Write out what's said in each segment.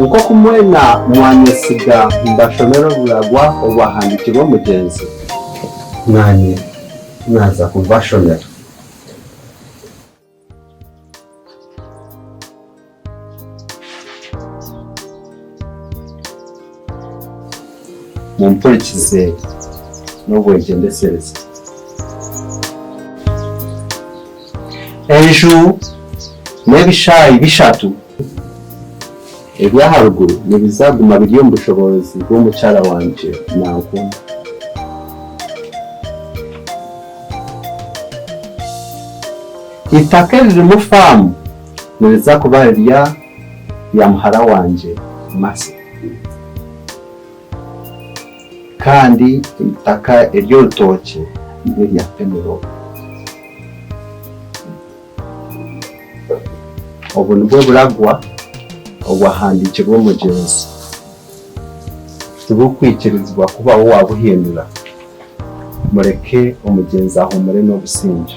Nk'oku mwena mwanyesiga mbashomere oburagwa obwahandiikirwe omugyenzi, naanye naaza kububashomera. Mumpurikize n'obwegyendeserezi. Enju n'ebishaayi bishatu eby'aharuguru nibizaaguma biri omu bushoboorozi bw'omukyara wangye naankunda. Eitaka eririmu faamu niriza kuba rirya rya muhara wangye Mercy. Kandi eitaka ery'orutookye niryo erya Penulo. Obu nibwo buragwa obwahandiikirwe omugyenzi, Tibukwikirizibwa kubaho owaabuhindura, mureke omugyenzi ahumure n'obusingye.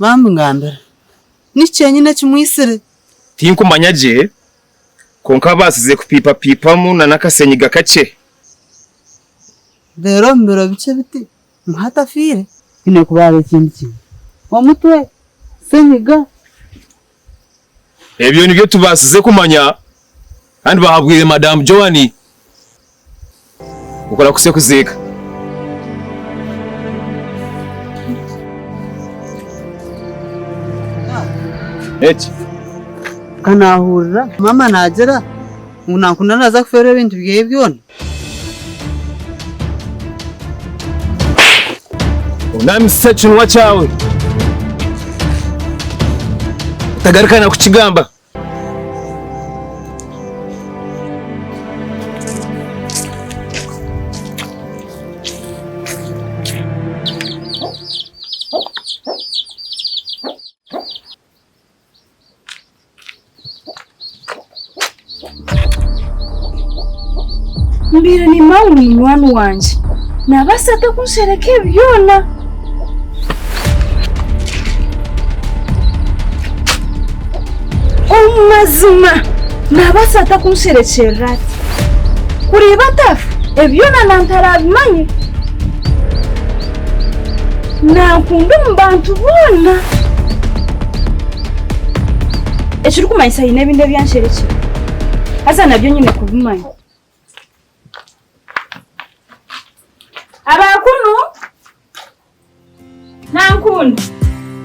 Baamugambira, Ni kyenyine ekimwitsire. Tinkumanya gye, kwonka abaasize kupiipapiipamu na n'akasenyiga kakye. Reero omu biro bikye biti Muha atafiire. Haine kuba hariho ekindi kintu, omutwe, senyiga. Ebyo nibyo tubaasize kumanya kandi baahabwire Madam Joan kukora kutsya kuziika. Eki. Nkaanahurira maama naagira ngu nankunda naaza kufeerwa ebintu bye byona. Onaamitsisa ekinwa kyawe, otagaruka na kukigamba. Mbaire niimanya ngu ni munywani wangye. Naabaasa ata kunshereka ebi byona? Omu mazima naabaasa ata kunsherekyerera ati? Kuriiba atafa? Ebi byona nantaraabimanye? Nankunda omu bantu boona. Ekirikumanyisa haine ebindi ebi ansherekire. Haza nabyo nyine kubimanya. Aba kunu, nankunda.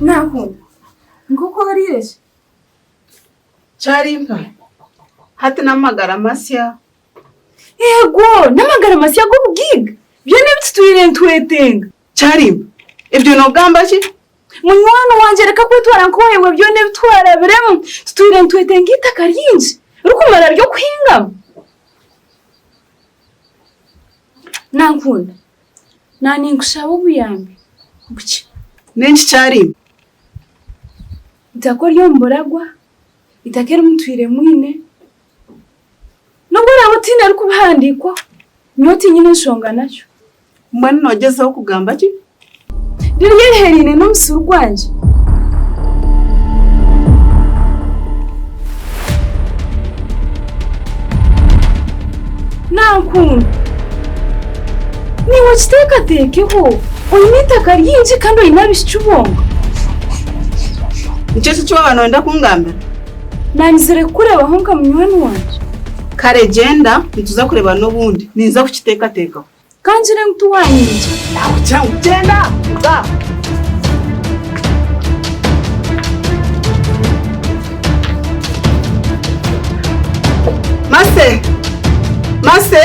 Naahunda, nk'oku oriire shi? Kyarimpa, hati n'amagara masya. Eego, n'amagara masya g'obugiiga, byona ebi tutwire nitwetenga. Charib, Ebyo nogamba ki? Munywani wangye reka kwetwara nk'owahairwe byona ebi twarabiremu. Tutwire nitwete nk'eitaka ryingi ririkumara ry'okuhingamu. Nankunda, na ninkushaba obuyambi bukye. N'enki Charib? Eitaka ory'omu buragwa, eitaka eri mutwire mwine. N'obu oraabe otaine arikubihandiikwaho, nyowe tiinyine nshonga nakyo. Mbwenu noogyezaho kugamba ki? Riryeheraine n'omusiru gwangye. Nankunda. Naiwe kiteekateekeho, oine eitaka ryingi kandi oine abaishiki bonka. Nikyo ki eki waaba nooyenda kungambira? Naanyizire kukureebaho nka munywani wangye. Kare gyenda, nituza kureebana obundi. Ninza kukiteekateekaho. Ka ngire ngu tiwaanyingya. Naakugira ngu gyenda! Za! Mercy! Mercy!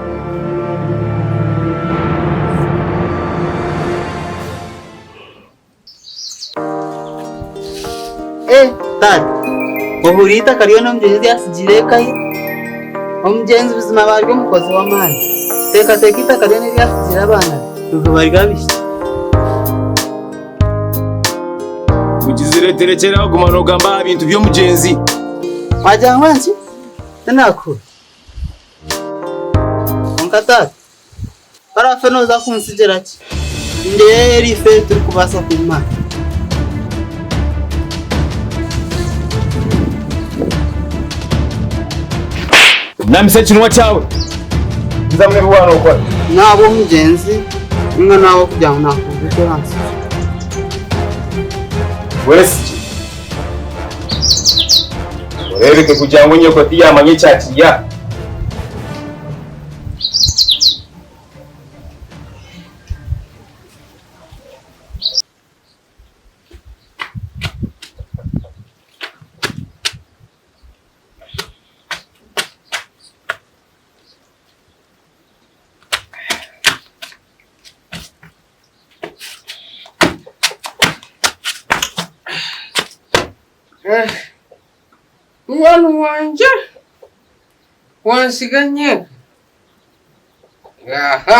Tata, ohuriire eitaka ryona omugyenzi eri atsigiire eka ye? Omugyenzi buzima aba ari omukozi w'amaani. Teekateeka eitaka ryona eri atsigiire abaana be, ngu bari abishiki. Mugizire terekyera kuguma noogamba aha bintu by'omugyenzi. Waagira ngu enki? Tinaakuhurira. Kwonka taata, ku araafe nooza kuntsigira ki? Nindeeba eri eifa eri tirikubaasa kummara. Namisa ekinwa kyawe! Nzamu ebi waaba nookora. Naaba omugyenzi ninga naaba kugira ngu naakubuuza eki orantsigira. Weesigye. Oreebeke kugira ngu nyoko tiyaamanya ekya kirya. Munywani wangye wantsiga nyeena aha.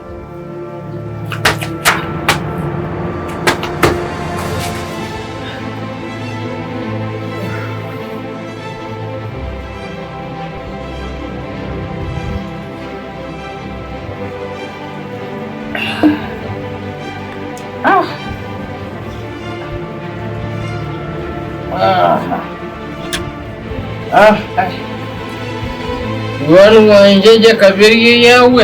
Mwana wangye gye akabirye yaawe.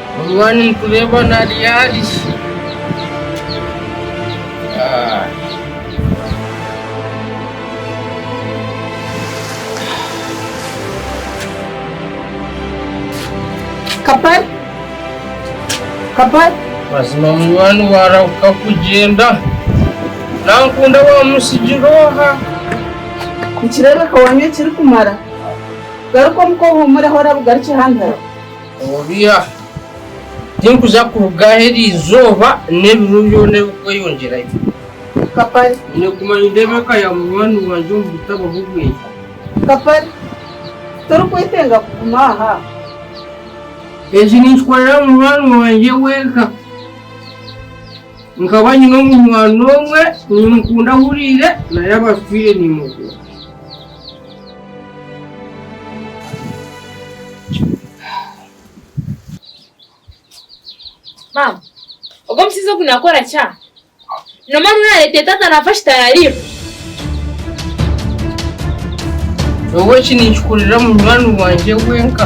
Omwana omukuru eibara rye Alice. Kapere, kapere. Mazima munywani warahuka kugyenda nankunda wamutsigira oha? Nikireebeka wanywa ekirikumara. Garuka omuka ohuumureho orabugarukye hantaahi. Oriya tinkuza kurugaho erizooba n'ebiro byona ebikweyongyerayo. Nyine kuguma nindeeba eka ya munywani wangye omu butabo bw'obwengye. Kapari, torikwetenga kuguma aha? Eki ninkikorera munywani wangye wenka. Nkaba nyine omunywani omwe, nimukunda ahuriire, nayaba afiire nimukunda. Maama, ogwo omushaija ogu naakora ki aha? Noomanya ngu yaareeta itaata naafa shi tayaariirwa? Nyowe eki ninkikurira munywani wangye wenka.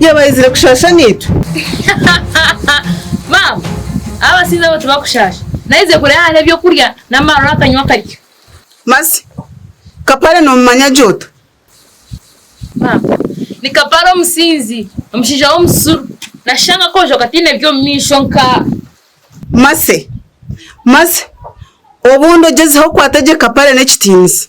Yaba aizire kushaasha naitwe? Maama, abashaija abo tibakushaasha. Naize kureeba hariho eby'okurya n'amaarwa akanywa akaryo. Mercy, Kapare noomumanya gye ota? Maama, Ni Kapare omusinzi, omushaija w'omusiru. Nashusha nka koojo kataine by'omu maisho nka. Mercy, Mercy, obundi ogyezeho okwate gye Kapare n'ekitiinisa.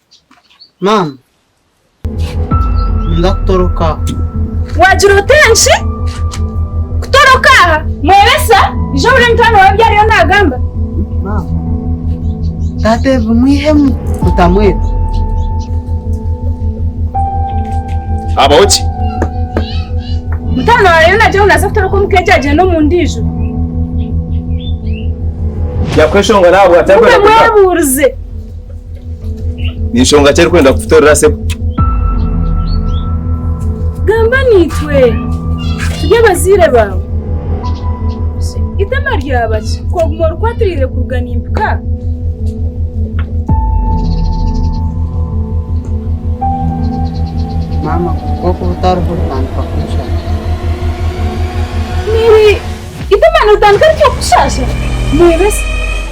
Maama, ninza kutoroka aha. Waagira ota enki? Kutoroka aha? Mwebesa, ija ohurire mutaahi waawe ebi ariyo naagamba. Maama, taata ebi mwihemu mutamweta. Haabaho ki? Mutaano waawe ariyo nagyezaho naaza kutoroka omu ka egi agyende omu ndiijo. Yakweshongora ahabwaki arikwenda Mube kuza? mwebuurize. Ni nshonga ki erikwenda kukutorera sebo? Gamba naitwe turi abazaire baawe. Itama ryaba ki ku oguma orikwatirire kuruga nimpika? Maama, nk'oku butariho, tandika kwishana. Mary! Itema notandika rityo kukushaasha? Mwebesa.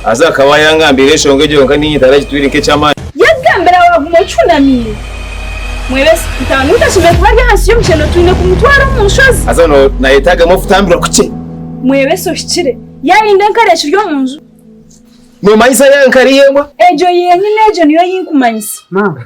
Haza akaba yangambiire enshonga egyo kwonka niinye ntaragitwire nk'eky'amaani. Yakugambira waguma okihunamiire? Mwebesa. Itema notashemereire kuba ari ahansi y'omushana otwine kumutwara omu nshozi. Haza ono nayetagamu okutambira kukye? Mwebesa. Ohikire yayenda enkare ekiri omu nju? Nomanyisa ya nkare y'embwa? Egyo yenyine egyo niyo eyinkumanyisa. Maama.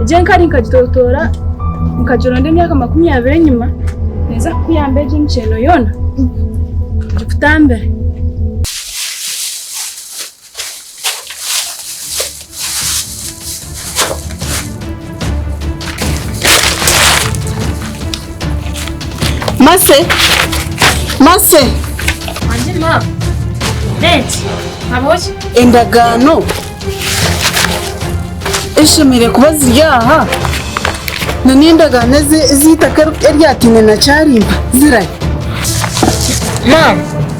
Egyo enkari nkagitotoora nkagironda emyaka makumi abiri enyima neeza kukuyamba egyo emikyeeno yoona gikutambire. Mase! Mase! Endagaano eshemereire kuba ziri aha, na n'endagaano ezi eziitaka eryateine na Kyarimpa ziri ahi?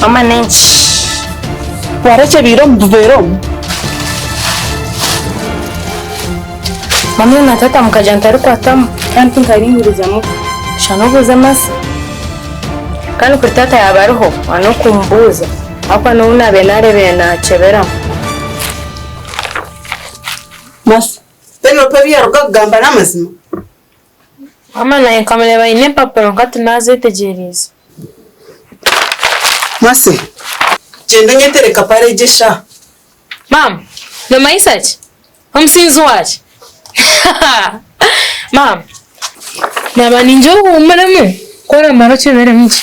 Mama nenki warekyebeire omu buveera omu? Mama na tata mukarya ntarikwatamu kandi tinkaringurizamu shana obuuze masa. Kandi kuri tata yaba ariho one okumubuuza ahakuba nobu nabaire narebire nakyeberamu. Masa, Penelope ebiyaruga kugamba n'amazima? Maama naanye nkamureeba aine empapura kwonka tinaazeetegyereize. Mercy, gyenda onyetere kapare egyo eshaaha. Maama, noomanyisa ki? Omusinzi waaki? Maama, naaba ningira ohuumuremu ku oramara okibeeremu gye.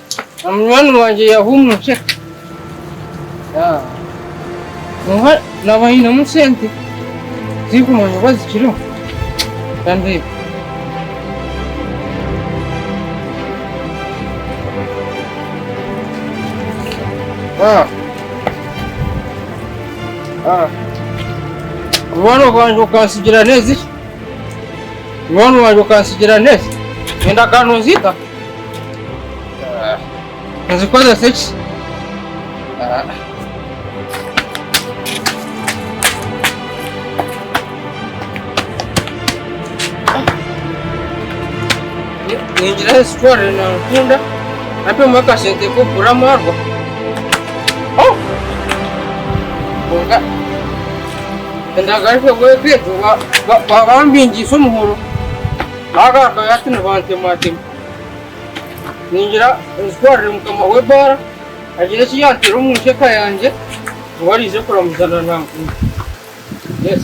Munywani wangye yahuumukye kwonka naaba hainemu sente tirikumanya oba zikiriho kandeebe. Munywani wangye okantsigira n'eziki? Munywani wangye okantsigira n'eziki? Kwenda ka nooziita? Nzikozesa eki? Ningira esitware nankunda ampemu akasente k'okugura amaarwa. Oh! Kwonka endagara eshobora kuba ekaiha, ba- ba- baba bambingiise omuhoro. Baagarukayo ati, Nibantematema. Ningira nzitwarire mukama w'ebaara agire eki yanteera omu nsi eka yangye ngu ariije kuramuza na nankuru. Yes.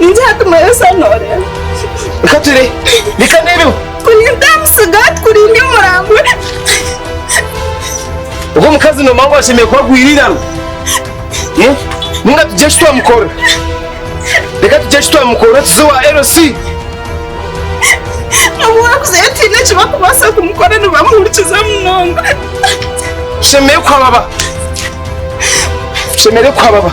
Ningira ati Mayozi anoorema. Reka ture, reka ndeebeho. Kurinda omusiga oti kurinda omurambo. Ogwo omukazi noomanya ngu ashemereire kuba agwire eiraro. Eh, Nyowe reka tugire eki twamukorera. Reka tugire eki twamukorera tuze owa LC. Obu waakuzayo tihaine eki bakubaasa kumukorera nibamuhurikiza munonga. Tushemereire kuhababa. Tushemereire kuhababa.